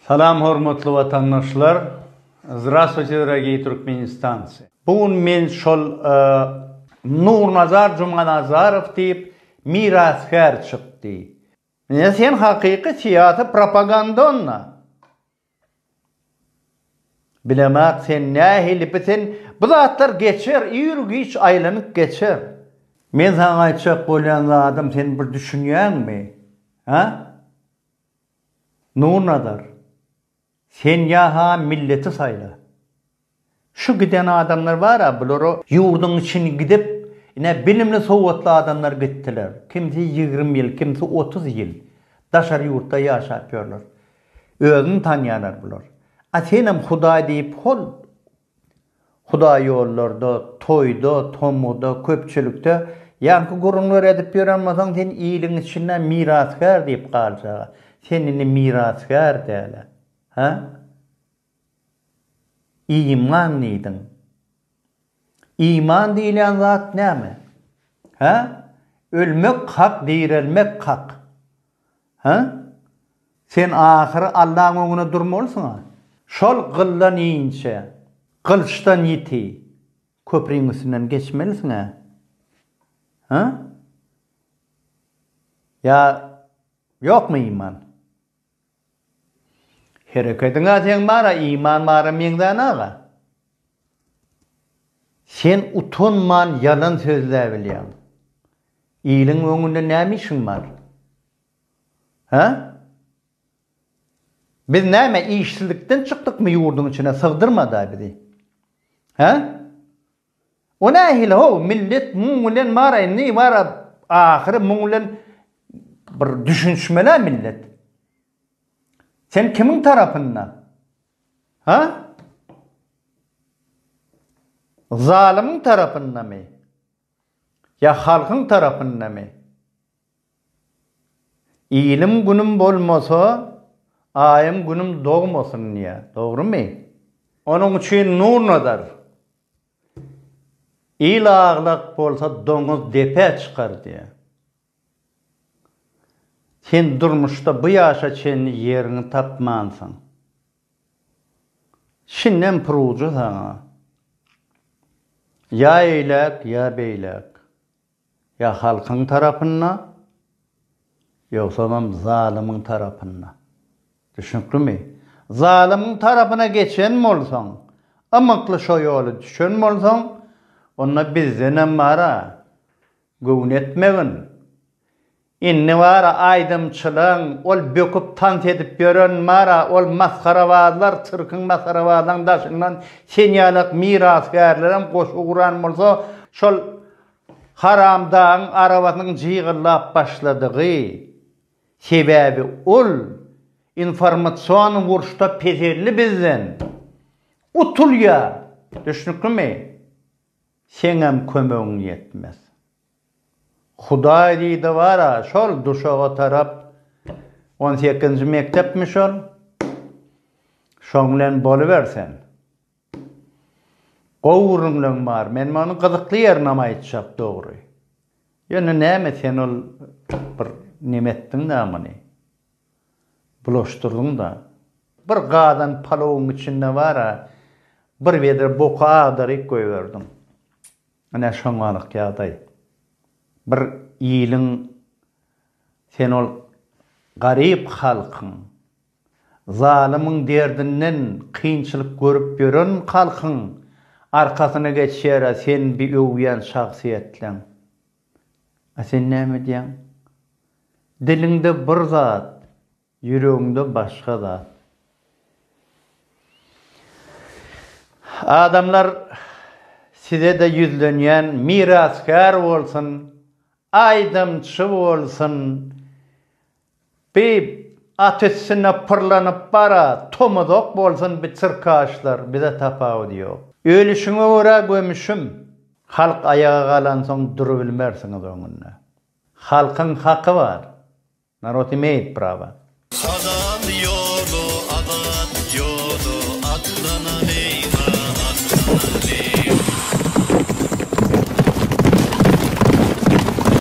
Salam hormatly watandaşlar Zdrastwuyte dragii Türkmenistanci bu gün men şol Nurnazar Jumanazarow diýip mirasgär çykdy Mine sen hakyky syýasy propagandonna Bilemok sen nähili bi sen bu zatlar geçer ir giç aýlanyp geçer. Men saňa aýtjak bolýan zadym sen bir düşünýäňmi? Hä? Nurnazar, sen ýa-ha milleti saýla. Şu giden adamlar bar-a, bular-a ýurduň içini gidip, ine, bilimli, sowatly adamlar gitdiler. Kimsi ýigrimi ýyl, kimsi otuz ýyl daşary ýurtda ýaşap ýörler. Özüni tanýarlar bular. A senem Hudaý diýip, hol, Hudaý ýollarda, toýda, tomguda, köpçülikde ýaňky gürrüňleri edip ýören bolsaň, sen iliň içinde mirasgär diýip galjag-a. Sen indi mirasgär däl-ä. Hä? Iman diýdiň. Iman diýilýän zat näme? Hä? Ölmek hak, direlmek hak. Hä? Sen ahyry Allaň öňüne durmalysyň-a. Şol gyldan inçe, gylyçdan ýiti köpriň üstünden geçmelisiň-ä. Hä? Ýa ýokmy iman? Herekediň-ä seň bar-a, iman bara meňzän aga. Sen utanman ýalan sözläbilýäň. Iliň öňünde näme işiň bar? Hä? Biz näme işsizlikden çykdykmy ýurduň içine sygdyrmadaý bizi? Hä? O nähili ho, millet muň bilen bar indi bar ahyry muň bilen bir düşünişmelä millet. Sen kimiň tarapynda? Hä? Zalymyň tarapyndamy? Ýa halkyň tarapyndamy? Ilim-günüm bolmasa, aýym-günüm dogmasyn diýýär. Dogrumy? Onuň üçin Nurnazar, Il aglak bolsa doňuz depä çykar diýýär. Sen durmuşda bu ýaşa çenli ýeriňi tapmansyň. Şindem purujy saňa. Ýa eýläk, ýa beýläk. Ýa halkyň tarapynda, ýogsamam zalymyň tarapynda. Düşnüklimi? Zalymyň tarapyna geçen bolsaň, ymykly şo ýoly düşen bolsaň, onda bizdenem bar-a. Göwün etmegin. Indi bar-a aýdymçylaň, ol böküp tans edip ýören bar-a, ol masgarabazlar, sirkiň masgarabazlaň daşyndan sen ýalak mirasgärlerem goşgy guran bolsa, şol haramdagyň arabasynyň jygyllap başladygy, sebäbi ol informasion urşda peselli bizden utulýar. Düşnüklimi? Seňem kömegiň ýetmez. Hudaý diýdi bar-a, şol duşaga tarap, on sekizinji mekdepmi şol, şoň bilen boluber sen. Gowy gürrüňleň bar, men muny gyzykly ýerinam aýtjak dogry. Ýöne näme sen ol bir neme etdiň-dä muny. Bulaşdyrdyň-da. Bir gazan palowyň içinde bar-a, bir wedre boky agdaryp goýberdiň. Ine, şoňalyk ýagdaý. Bir iliň, sen ol garyp halkyň, zalymyň derdinden kynçylyk görüp ýören halkyň arkasyna geçýär-ä sen bi öwýän şahsyýetleň. A sen näme edýäň? Diliňde bir zat, ýüregiňde başga zat. Adamlar size-de ýüzlenýän mirasgär bolsun, aýdymçy bolsun, Bip, at üstünde pyrlanyp bara, tomuzok bolsun bi çyrkaşlar, bize tapawudy ýok. Ölüşiňe görä gömüşim. Halk aýaga galansoň durubilmersiňiz öňünde. Halkyň haky bar. Narod imeýit prava. Halal ýoly azat ýoly atlanalyň-a, atlanalyň.